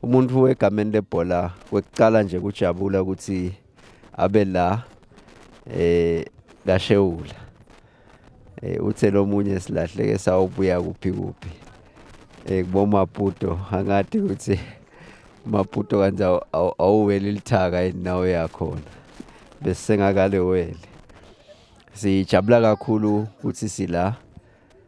umuntu wegameni lebhola kwekuqala nje kujabula ukuthi abe la eh kashewula eh uthe lomunye silahleke sawubuya kuphi kuphi eh kubomaputo angathi ukuthi maputo kanti awuweli lithaka inawo yakhona bese sengakale wele sijabula kakhulu ukuthi sila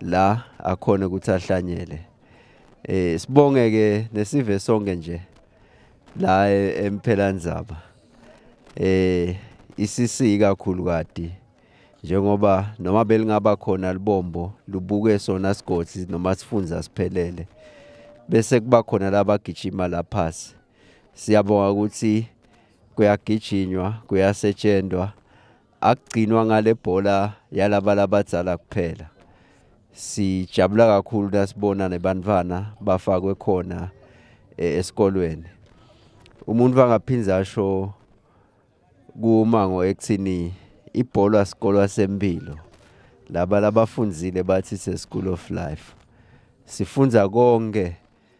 la akhona ukuthi ahlanyele eh sibonge ke nesive sonke nje la e-, emphelanzaba eh isisi kakhulu kade njengoba noma belingaba khona libombo lubuke sona sigodi noma sifunza siphelele bese kuba khona labagijima laphasi siyabonga ukuthi kuyagijinywa kuyasetshenzwa akugcinwa ngale bhola yalabala abadzala kuphela sijabula kakhulu nasibona nebantwana bafakwe khona eh, esikolweni umuntu angaphinde asho kumango ekuthini ibhola sikolwa sempilo laba labafundzile bathi se-school of life sifunza konke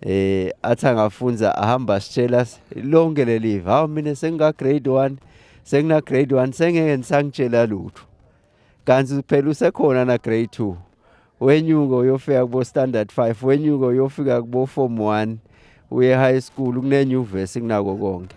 eh athi angafunza ahamba sitshela lonke leli hawu mina senginga grade 1 sengina grade 1 sengeke ngisangitshela lutho kanti phela usekhona na grade 2 wenyuka uyofika kubo standard 5 wenyuka uyofika kubo form 1 uye high school kunenyuvesi kunako konke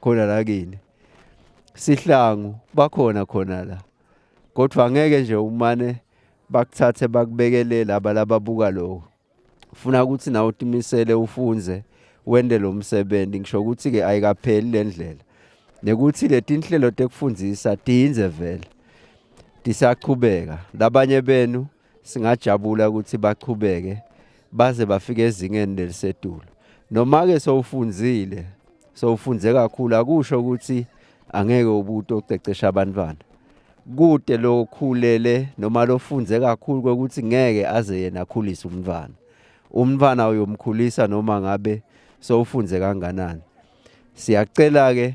khona la kini sihlangu bakhona khona la kodwa ngeke nje umane bakuthathe bakubekele laba lababuka lokho ufuna ukuthi nawe utimisele ufunze wende lo msebenzi ngisho ukuthi ke ayikapheli le ndlela nekuthi letinhlelo tekufundisa tiyinze vele tisachubeka labanye benu singajabula ukuthi baqhubeke baze bafike ezingeni lelisedulo noma-ke sowufunzile sowufunze kakhulu akusho ukuthi angeke ubuti ocecesha abantwana kude lokhulele noma lofunze kakhulu kokuthi ngeke aze yena akhulise umntwana umntwana uyomkhulisa noma ngabe sowufunze kanganani siyacela-ke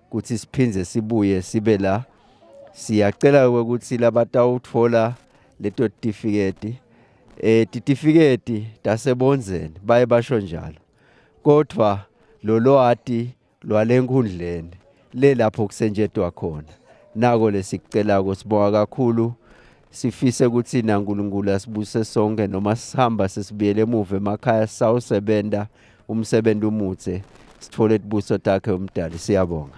kuthi siphinde sibuye sibe la siyacela ukuthi labatawuthola leto tifiketi eh titifiketi tasebonzeni baye basho njalo kodwa lolwati lwalenkundleni le lapho kusenjetwa khona nako lesikucela kusibonga kakhulu sifise ukuthi naNkulunkulu asibuse sonke noma sihamba sesibuyele emuva emakhaya sawusebenza umsebenzi umutse sithole ibuso takhe umdali siyabonga